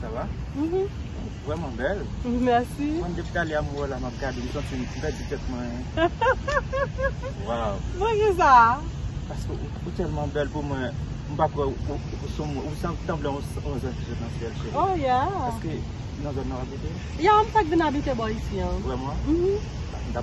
Sa va? Ou vreman bel. Merci. Mwen depi tale a mwen wè w la map gade m santi m pèdi tèt mwen. Waw. Pou ki sa? Paske ou telman bel pou mwen m pa kwè ou sanble yon anj ki sot nan syèl cheri. Oh yeah. Eske nan zòn nan w abite? Yeah, m fèk vin abite bò isi an. Vreman? Mhmm.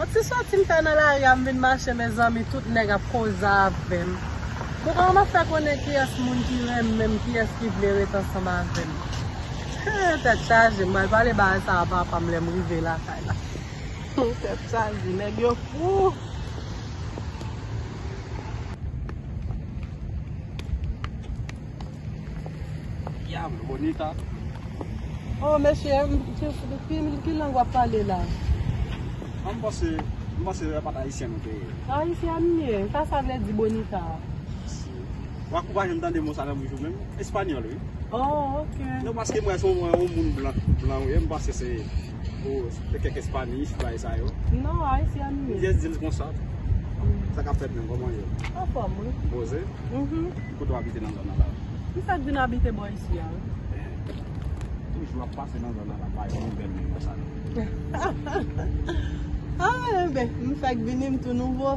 On ti soti m fè nan lari a m vin mache mezanmi tout nèg ap koze avèm kouman map fè konnen kiyès moun ki renmen m kiyès ki vle ret ansanm avèm hee tèt chaje m pral pale bagay sa a papa m lèm rive lakay la hoo tèt chaje nèg yo fou. Diablo bonita. Oh mesye m ki lang wap pale la. An m panse m panse e pat ayisyen nou te ye. Ayisyen m ye, sa sa vle di bonita a? Ou akouraje m tande mo sa nan bouch ou menm, espanyòl wi. Oh ok. Non paske m wè se yon moun blan ou ye m panse se Ou se kèk espani si bay sa yo. Non, ayisyen an ni. Yes dil konsa. Sa ka fèt men koman yo. An fòm wi. Boze? Mhm. Ki kote w abite nan zòn nan la? Ki sa k vin abite bò isi a? Toujou ap pase nan zòn nan la bay yon bèl moun konsa. Ah enben, m fèk vini m tou nouvo.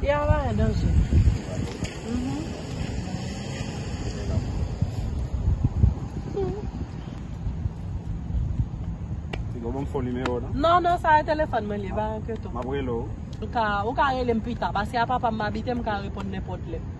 Piya a bay danje. Tigo banm fo nimewo nan. Non non sa e telefon mwen li, pa enkyete w. Map rele w. Ou ka rele m pita, paske a papa m m abite m ka reponn nenpot lè.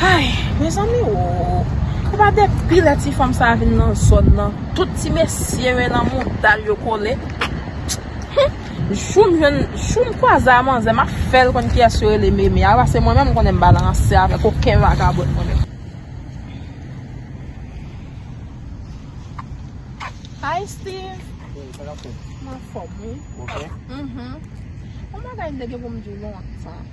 Hay mezanmi oo epa depi lè ti fanm sa vin nan zòn nan tout ti mesye yo nan moudal yo kole humm joum jwenn joum kwaze a manzè map fèl konn kiyès yo rele meme a pase mwen menm mkonnen mbal ranse avèk oken vagabòn mwen menm. Hi Steeve Hey sa kap fèt? M anfòm wi Ou ok? Uhmm Yon bagay m te gen pou m di w lontan.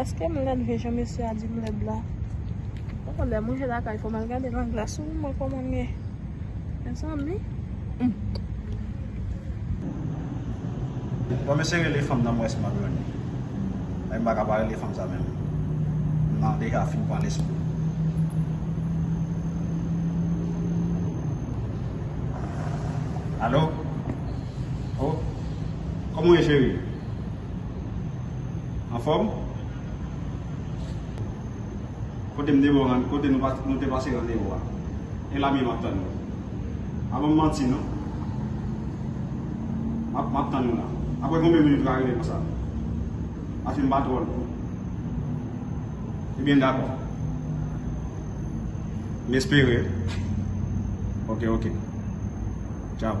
Eske m lèd vre jan mesye a di m lèd la? Poko lè mwen je lakay fòm al gade nan glas ou mwen koman m ye mezanmi humm. Bon mesye rele fanm nan m wè si map jwenn li men m paka pa rele fanm sa menm m nan deja fin pran lespri. Alo oh kòman ou ye cheri? Anfòm? Kote m te bon rann, kote nou te pase randevou a? E la mye m ap tann nou. Pa ban m manti non. M ap, m ap tann nou la. Aprè konbyen minit ou ka rete konsa? Paske m pa twò lwen. Ebyen dakò. M espere. Ok, ok. Tchaw.